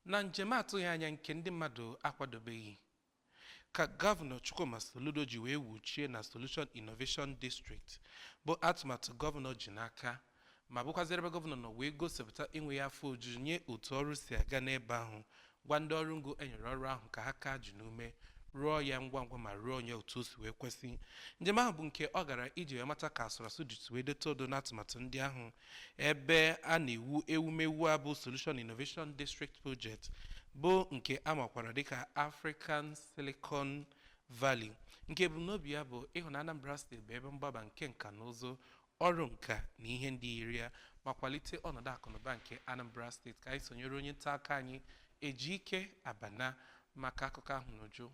Na njem atụghị anya nke ndị mmadụ akwadobeghị ka Gọvanọ Chukwuma Soludo ji wee wuchie na Solution Innovation District bụ atụmatụ gọvanọ ji n'aka ma bụkwazịrị ebe gọvanọ nọ wee gosipụta enweghị afọ ojuju nye otu ọrụ si aga n'ebe ahụ gwa ndị ọrụ ngo enyere ọrụ ahụ ka ha kaa ji n'ume rụọ ya ngwa ngwa ma rụọnụ ya otu o si wee kwesị njem ahụ bụ nke ọ gara iji wee mata ka a sụrụ asụ ji wee deta odo n'atụmatụ ndị ahụ ebe a na-ewu ewumewu a bụ Solution Innovation District Project bụ nke a makwara dịka African Silicon Valley nke ebumnobi ya bụ ịhụ na Anambra steeti bụ ebe mgbaba nke nka na ụzụ ọrụ nka na ihe ndị yiri ya ma kwalite ọnọdụ akụnụba nke Anambra steeti ka anyị sonyere onye nta akụkọ anyị Ejike Abana maka akụkọ ahụ n'uju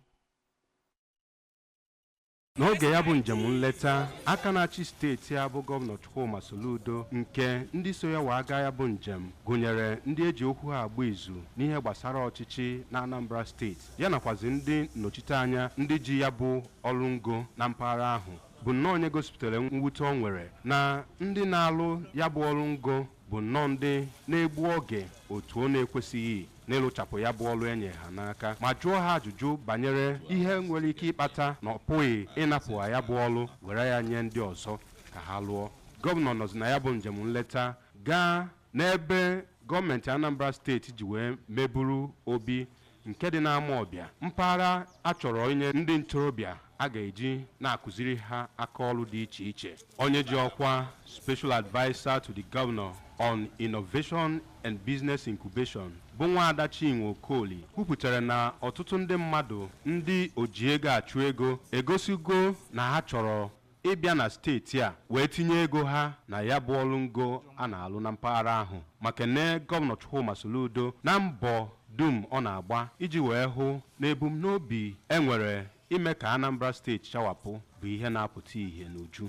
n'oge ya bụ njem nleta aka na-achị steeti a bụ gọvanọ Chukwuma Soludo nke ndị so ya wee gaa ya bụ njem gụnyere ndị eji okwu ha agba izu n'ihe gbasara ọchịchị na Anambra steeti ya nakwazi ndị nnọchiteanya ndị ji ya bụ ọrụ ngo na mpaghara ahụ bụ nnọọ onye gosipụtara mwute ọ nwere na ndị na-alụ ya bụ ọrụ ngo bụ nnọọ ndị na-egbu oge otu ọ na-ekwesịghị n'ịlụchapụ ya bụ ọlụ enye ha n'aka ma jụọ ha ajụjụ banyere ihe nwere ike ịkpata na ọ pụghị ịnapụ ha ya bụ ọlụ were ya nye ndị ọzọ ka ha lụọ gọvanọ nọzi na ya bụ njem nleta gaa n'ebe gọọmenti Anambra steeti ji wee meburu obi nke dị n'Amawbịa, mpaghara a chọrọ inye ndị ntorobịa a ga-eji na-akụziri ha aka ọlụ dị iche iche. Onye ji ọkwa Special Adviser to the Governor on Innovation and Business Incubation bụ Nwaada Chinwe Okoli kwupụtara na ọtụtụ ndị mmadụ ndị ojiego achụ ego egosigo na ha chọrọ ịbịa na steeti a wee tinye ego ha na ya bụ ọlụ ngo a na-alụ na mpaghara ahụ ma kenee Gọvanọ Chukwuma Soludo na mbọ dum ọ na-agba iji wee hụ na ebumnobi e nwere ime ka Anambra steeti chawapụ bụ ihe na-apụta ihe n'uju.